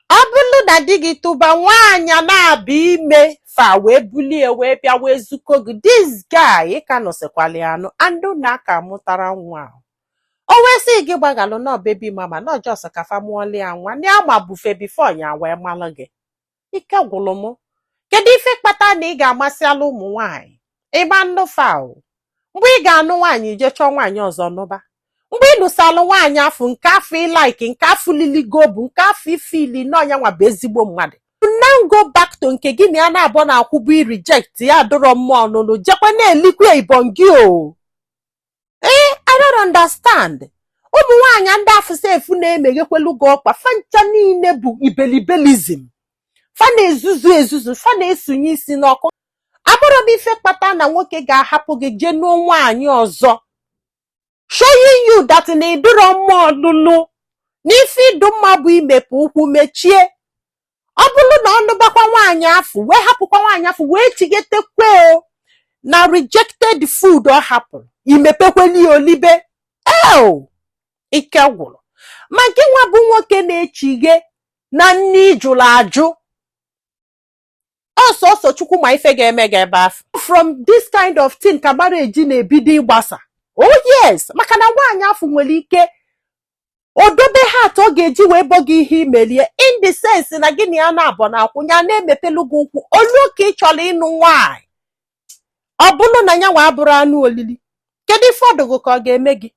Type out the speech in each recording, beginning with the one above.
ọ bụrụ na di gị tụba nwaanyị a na-abịa ime fa wee bulie wee bịa wee zuko gị this guy ị ka nụsịkwala ya anụ and unu aka mụtara nwa ahụ o wee sị gị gbaghalụ na ọ baby mama na ọ just ka fa mụọlụ ya nwa na ama bufe before ya wee malụ gị ike gwụrụ m kedu ife kpata na ị ga-amasị ala ụmụ nwaanyị ị ma-anụ fa o mgbe ị ga-anụ nwaanyị i jee chọọ nwaanyị ọzọ nụba mgbe ị nụsalụ nwaanyị afụ nke afụ ị like nke afụ liligo bụ nke afụ ị feel na ọ nya nwa bụ ezigbo mmadụ now go back to nke gị na ya naabọ na-akwụbu ị reject ya adụrọ mma ọnụnụ jekwa na-elikwa ibon gị o ee I don't understand ụmụ nwaanyị ndị afụ sef na-emeghekwelu gị ọkpa fa ncha niile bụ ibelibelizim fa na-ezuzu ezuzu fa na-esunye isi n'ọkụ afụrọ m ife kpata na nwoke ga-ahapụ gị jee nụọ nwaanyị ọzọ showing you that na ị dụrọ mma ọnụnụ na ife ị dụ mma bụ imepe ụkwụ mechie ọ bụrụ na ọ nụbakwa nwaanyị afụ wee hapụkwa nwaanyị afụ wee chighetekwe o na rejected food ọ hapụrụ i mepekweli ya o libe eo ike gwụrụ ma gị nwa bụ nwoke na-echighe na nni ị jụrụ ajụ ọ sọsọ chukwu ma ife ga-eme gị ebe afụ from this kind of thing ka marriage na-ebido ịgbasa oh yes maka na nwaanyị afụ nwere ike o dobe heart ọ ga-eji wee bọ gị ihe i meli ya in the sense na gị na ya naabọ na-akwụ nya na-emepelu gị ụkwụ o luo ka ị chọrọ ịnụ nwaanyị ọ bụrụ na ya nwa abụrụ anụ olili kedu ife ọ dụ gị ka ọ ga-eme gị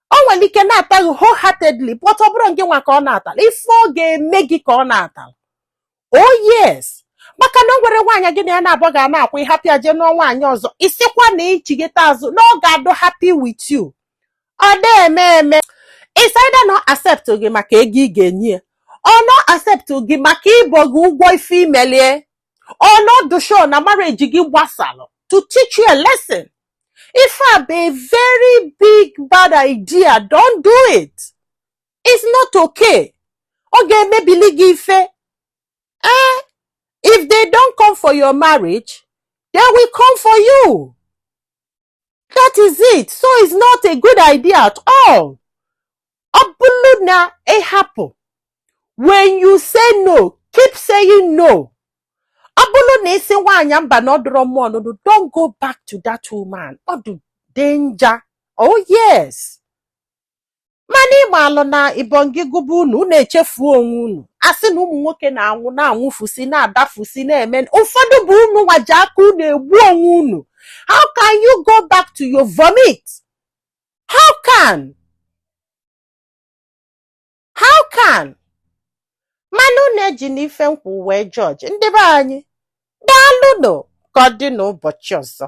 o nwere ike nata gị wholeheartedly but ọ bụrọ gị nwa ka ọ natala ife ọ ga-eme gị ka ọ na-atala oh yes maka na o nwere nwaanyị gị na ya naabọ ga na-akwụ ị hapụ ya jee nụọ nwaanyị ọzọ ị sịkwa na i chigheta azụ na ọ ga-adụ happy with you ọ na-eme eme is either na ọ accept gị maka ego ị ga-enye ya or na ọ accept gị maka ịbọ gị ụgwọ ife i meli ya or na ọ dụ sure na marriage gị gbasalụ to teach you a lesson ife a bụ a very big bad idea don't do it it's not okay ọ ga-emebili gị ife eh if they don't come for your marriage they will come for you that is it so it's not a good idea at all ọ bụrụ na ị hapụ when you say no keep saying no ọ bụrụ na ị sị nwaanyị mba na ọ dụrọ mma ọnụnụ don't go back to that woman ọ dị danger oh yes mana ị malụ na ibongi gụba unu unu echefuo onwe unu a sị na ụmụ nwoke na-anwụ na-anwụfusi na-adafusi na-eme ụfọdụ bụ unu nwa ji aka unu egbu onwe unu how can you go back to your vomit how can how can mana unu ejina ife m kwu wee judge ndị be anyị daalụnụ ka ọ dị n'ụbọchị ọzọ